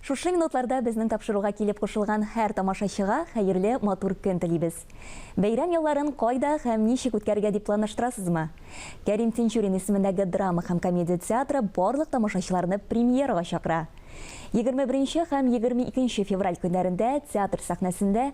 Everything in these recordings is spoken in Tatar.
Шушы минутларда безнең тапшыруга килеп кушылган һәр тамашачыга хәерле матур көн телибез. Бәйрәм ялларын кайда һәм ничек үткәрергә дип планлаштырасызмы? Кәрим Тинчурин исемендәге драма һәм комедия театры барлык тамашачыларны премьерага чакыра. 21 һәм 22 февраль көннәрендә театр сәхнәсендә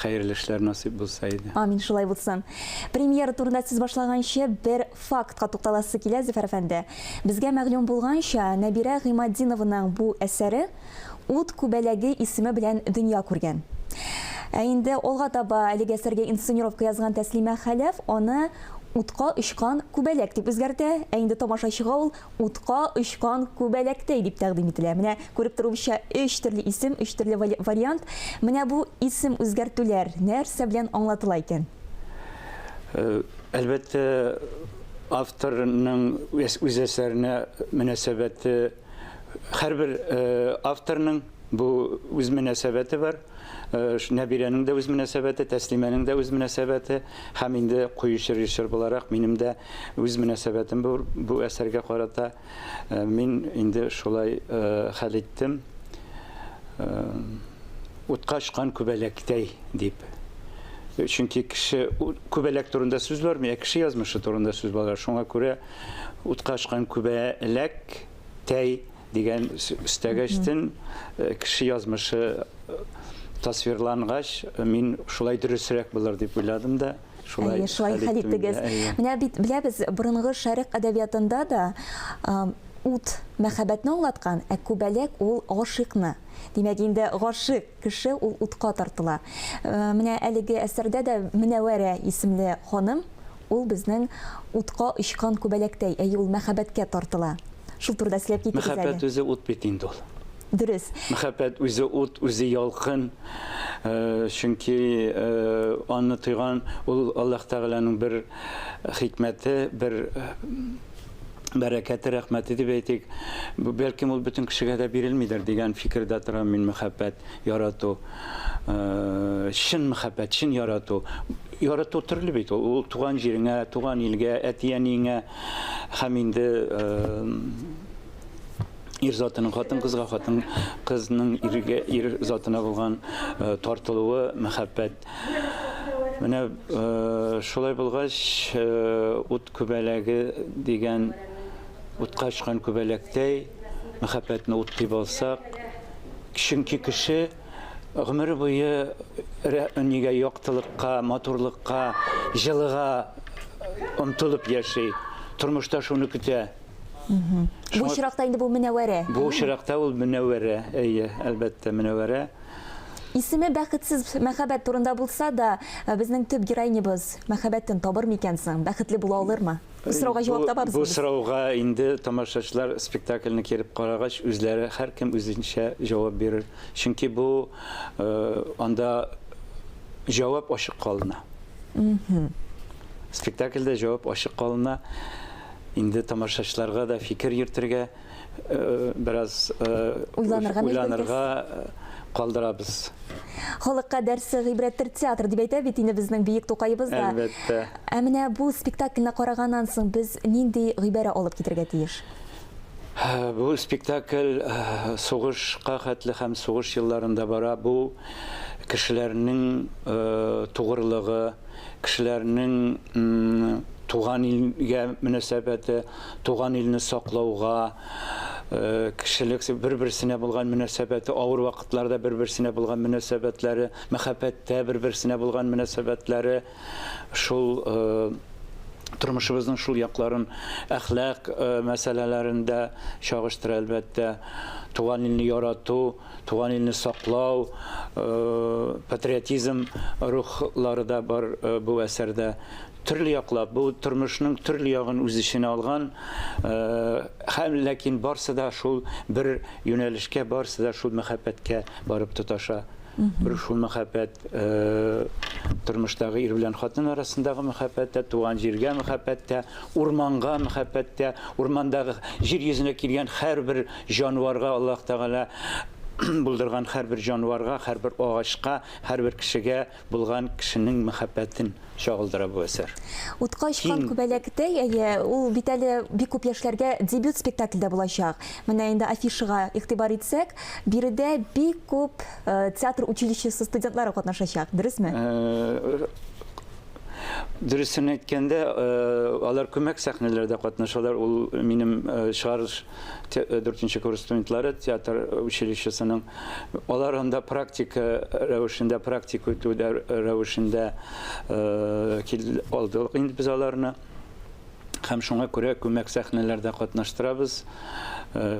Хәерле эшләр насыйп булса иде. Амин, шулай булсын. Премьера турында сүз башлаганчы, бер фактка тукталасы килә, Зөфәр әфәнде. Безгә мәгълүм булганча, Нәбирә Гыйматдинованың бу әсәре Ут күбәләге исеме белән дөнья күргән. Ә инде алга таба әлеге әсәргә инсценировка язган Тәслимә Хәләф аны Утка очкан күбәләк дип үзгәртә, ә инде тамашачыга ул Утка очкан күбәләктәй дип тәкъдим ителә. Менә күреп торуымча, өч төрле исем, өч төрле вариант. Менә бу исем үзгәртүләр нәрсә белән аңлатыла икән? Әлбәттә, авторның үз әсәренә мөнәсәбәте, һәрбер авторның бу үз мөнәсәбәте бар. Нәбирәнең дә үз мөнәсәбәте, Тәслимәнең дә үз мөнәсәбәте һәм инде куючы режиссер буларак минем дә үз мөнәсәбәтем бу, бу әсәргә карата. Мин инде шулай хәл иттем, утка очкан күбәләктәй дип. Чөнки кеше күбәләк турында сүз бармый, ә кеше язмышы турында сүз бара. Шуңа күрә утка очкан күбәләктәй Дигән өстәгәчтен кеше язмышы тасвирлангач, мин шулай дөресрәк булыр дип уйладым да, шулай Әйе, шулай хәл иттегез. Менә бит беләбез, борынгы шәрык әдәбиятында да ут мәхәббәтне аңлаткан, ә күбәләк ул гашыйкны. Димәк, инде гашыйк кеше ул утка тартыла. Менә әлеге әсәрдә дә Менәвәрә исемле ханым Ул безнең утка очкан күбәләктәй, әйе, ул мәхәббәткә тартыла. Шул турыда сөйләп китегез әле. Мәхәббәт үзе ут бит инде ул. Дөрес. Мәхәббәт үзе ут, үзе ялкын. Чөнки аны тойган, ул Аллаһ Тәгаләнең бер хикмәте, бер бәрәкәте, рәхмәте дип әйтик. Бәлкем ул бөтен кешегә дә бирелмидер дигән фикердә торам мин, мәхәббәт, ярату. чын мәхәббәт, чын ярату. Ярату төрле бит ул. Ул туган җиреңә, туган илгә, әти-әниеңә һәм инде ир затының хатын-кызга, хатын-кызның иргә, ир затына булган тартылуы, мәхәббәт. Менә шулай булгач, ут күбәләге дигән утка очкан күбәләктәй мәхәббәтне ут дип алсак, Чөнки кеше гомере буе нигә яктылыкка, матурлыкка, җылыга омтылып яши, тормышта шуны көтә. Бу очракта инде бу Мөнәвәрә. Бу очракта ул Мөнәвәрә, әйе, әлбәттә, Мөнәвәрә. Исеме бәхетсез мәхәббәт турында булса да, безнең төп героинябыз мәхәббәтен табыр микән соң, бәхетле була алырмы? Бу сорауга җавап табабызмы? Бу сорауга инде тамашачылар спектакльне кереп карагач, үзләре һәркем үзенчә җавап бирер. Чөнки бу анда җавап ачык калына. Спектакльдә җавап ачык калына. Инде тамашачыларга да фикер йөртергә. Бераз уйланырга, уйланырга калдырабыз. Халыкка дәрсе гыйбрәттер театр дип әйтә бит инде безнең биек Тукаебыз да. Әлбәттә. Ә менә бу спектакльне караганнан соң без нинди гыйбарә алып китергә тиеш? Бу спектакль сугышка хәтле һәм сугыш елларында бара. Бу кешеләрнең тугрылыгы, кешеләрнең туган илгә мөнәсәбәте, Туган илне саклауга, кешелек бер-берсенә булган мөнәсәбәте, авыр вакытларда бер-берсенә булган мөнәсәбәтләре, мәхәббәттә бер-берсенә булган мөнәсәбәтләре, шул тормышыбызның шул якларын, әхлак мәсьәләләрен дә чагыштыра, әлбәттә, туган илне ярату. Туган илне саклау, патриотизм рухлары да бар бу әсәрдә. Төрле яклап, бу тормышның төрле ягын үз эченә алган, һәм ләкин барсы да шул бер юнәлешкә, барсы да шул мәхәббәткә барып тоташа. Бер шул мәхәббәт тормыштагы ир белән хатын арасындагы мәхәббәт тә, туган җиргә мәхәббәт тә, урманга мәхәббәт тә, урмандагы җир йөзенә килгән һәрбер Җанварга Аллаһ Тәгалә булдырган һәрбер җанварга, һәрбер агачка, һәрбер кешегә булган кешенең мәхәббәтен чагылдыра бу әсәр. Утка очкан күбәләктәй, әйе, ул бит әле бик күп яшьләргә дебют спектакль дә булачак. Менә инде афишага игътибар итсәк, биредә бик күп театр училищесы студентлары катнашачак, дөресме? Дөресен әйткәндә, алар күмәк сәхнәләрдә катнашалар, ул минем чыгарылыш дүртенче курс студентлары театр училищесының. Алар анда практика рәвешендә, практик үтү рәвешендә алдылык инде без аларны. Һәм шуңа күрә күмәк сәхнәләрдә катнаштырабыз.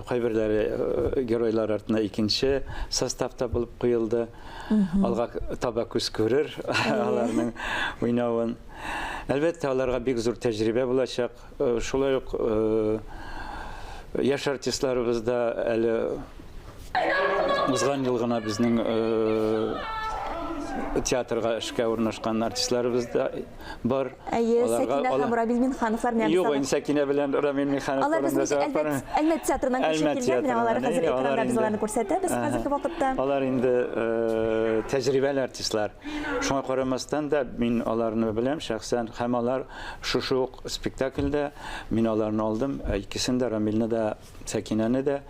Кайберләре геройлар артына икенче составта булып куелды. Алга таба күз күрер аларның уйнавын. Әлбәттә, аларга бик зур тәҗрибә булачак. Шулай ук яшь артистларыбыз да әле узган ел гына безнең театрга эшкә урнашкан артистларыбыз да бар. Әйе, Сәкинә һәм Рамил Минхановлар менә Юк, инде Сәкинә белән Рамил Минханов Алар безнең Әлмәт театрыннан күчеп килгән, менә алар хәзер экранда без аларны күрсәтәбез хәзерге вакытта. Алар инде тәҗрибәле артистлар. Шуңа карамастан да мин аларны беләм шәхсән һәм алар Шушы ук спектакльдә мин аларны алдым, икесен дә, Рамилне дә, Сәкинәне дә.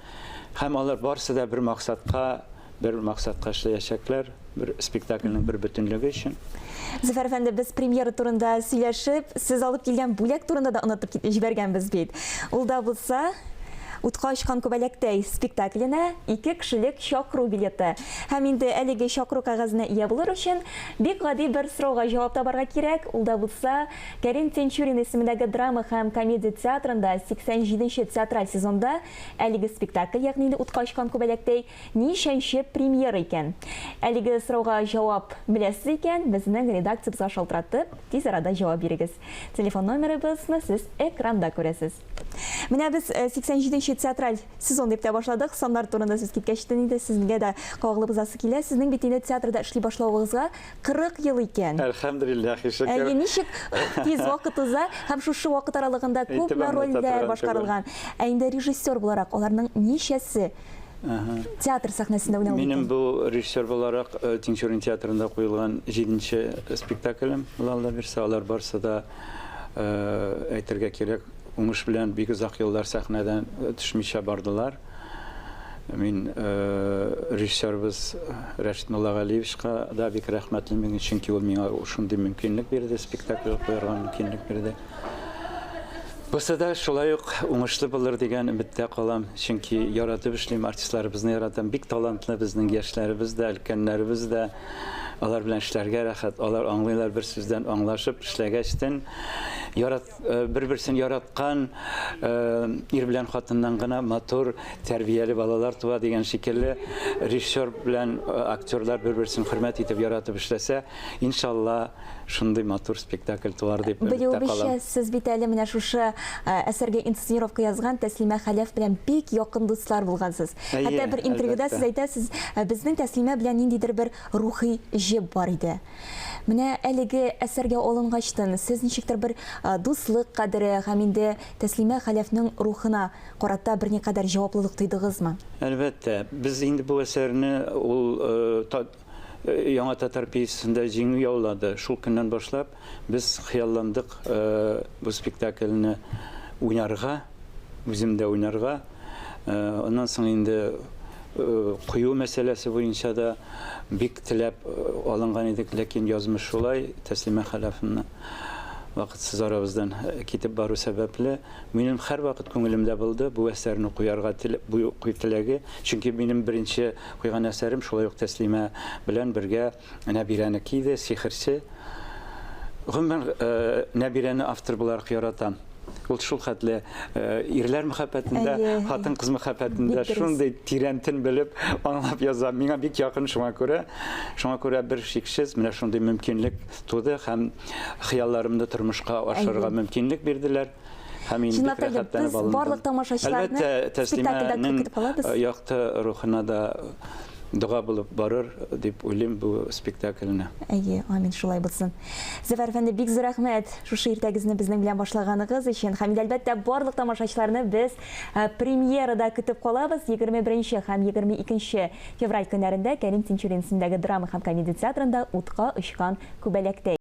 Һәм алар барысы да бер максатка, бер максатка эшләячәкләр, бер спектакльнең бер бөтенлеге өчен. Зөфәр әфәнде, без премьера турында сөйләшеп, сез алып килгән бүләк турында да онытып кит, җибәргәнбез бит. Ул да булса, Утка очкан күбәләктәй спектакленә ике кешелек чакыру билеты. Һәм инде әлеге чакыру кәгазенә ия булыр өчен, Бик гади бер сорауга җавап табарга кирәк, ул да булса, Кәрим Тинчурин исемендәге драма һәм комедия театрында 87 нче театраль сезонда әлеге спектакль, ягъни инде утка очкан күбәләктәй, ничәнче премьера икән? Әлеге сорауга җавап беләсез икән, безнең редакциябезгә шалтыратып, тиз арада җавап бирегез. Телефон номерыбызны сез экранда күрәсез. Менә без 87 э, нче театраль сезон дип тә башладык. Саннар турында сүз киткәч тен инде сезгә дә кагылып узасы килә. Сезнең бит инде театрда эшли башлавыгызга 40 ел икән. Әлхәмдулиллах, ишекер. Әйе, ничек тиз вакыт уза һәм шушы вакыт аралыгында күпме рольләр башкарылган. Ә инде режиссер буларак аларның ничәсе Театр сәхнәсендә уйнау. Минем бу режиссер буларак э, Тинчурин театрында куелган җиденче спектаклем Лалла бирсә, алар барсы да э, әйтергә кирәк, уңыш белән бик озак еллар сәхнәдән э, төшмичә бардылар. Мин режиссерыбыз Рәшит Муллагалиевичка да бик рәхмәтле, чөнки ул миңа шундый мөмкинлек бирде, спектакль куярга мөмкинлек бирде. Бусы да шулай ук уңышлы булыр дигән өметтә калам, чөнки яратып эшлим, артистларыбызны яратам. Бик талантлы безнең яшьләребез дә, өлкәннәребез дә. Алар белән эшләргә рәхәт. Алар аңлыйлар бер сүздән аңлашып эшләгәчтен. Ярат э, бер-берсен яраткан э, ир белән хатыннан гына матур, тәрбияле балалар туа дигән шикелле режиссер белән э, актерлар бер-берсен хөрмәт итеп яратып эшләсә, Иншалла, шундый матур спектакль туар дип өметтә калам. Белүебезчә, сез бит әле менә шушы әсәргә инсценировка язган Тәслимә Хәләф белән бик якын дуслар булгансыз. Хәтта бер интервьюда сез әйтәсез, безнең Тәслимә белән ниндидер бер рухи җеп бар иде. Менә әлеге әсәргә алынгачтын, сез ничектер бер дуслык кадере һәм инде Тәслимә Хәләфнең рухына карата берникадәр җаваплылык тойдыгызмы? Әлбәттә, без инде бу әсәрне ул Яңа татар пьесасында җиңү яулады. Шул көннән башлап без хыялландык бу спектакльне уйнарга, үзем дә уйнарга. Аннан соң инде кую мәсьәләсе буенча да бик теләп алынган идек, ләкин язмыш шулай, Тәслимә Хәләфовна вакытсыз арабыздан китеп бару сәбәпле, минем һәрвакыт күңелемдә булды бу әсәрне куярга теләге, чөнки минем беренче Куйган әсәрем шулай ук Тәслимә белән бергә Нәбирәнеке иде, Сихерче. Гомумән, Нәбирәне автор буларак яратам. Ул шул хәтле ирләр мәхәббәтендә, хатын-кыз мәхәббәтендә шундый тирәнтен белеп, аңлап яза. Миңа бик якын шуңа күрә. Шуңа күрә бер шиксез менә шундый мөмкинлек туды һәм хыялларымны тормышка ашырырга мөмкинлек бирделәр. Һәм мин бик рәхәтләнеп алындым. Барлык тамашачыларны спектакльдә көтеп калабыз. Әлбәттә, якты рухына да дога булып барыр дип уйлыйм бу спектакльне. Әйе, амин, шулай булсын. Зөфәр әфәнде, бик зур рәхмәт шушы иртәгезне безнең белән башлаганыгыз өчен. Һәм инде әлбәттә барлык тамашачыларны без э, премьерада көтеп калабыз. 21 һәм 22 февраль көннәрендә Кәрим Тинчурин исемендәге драма һәм комедия театрында Утка очкан күбәләктәй.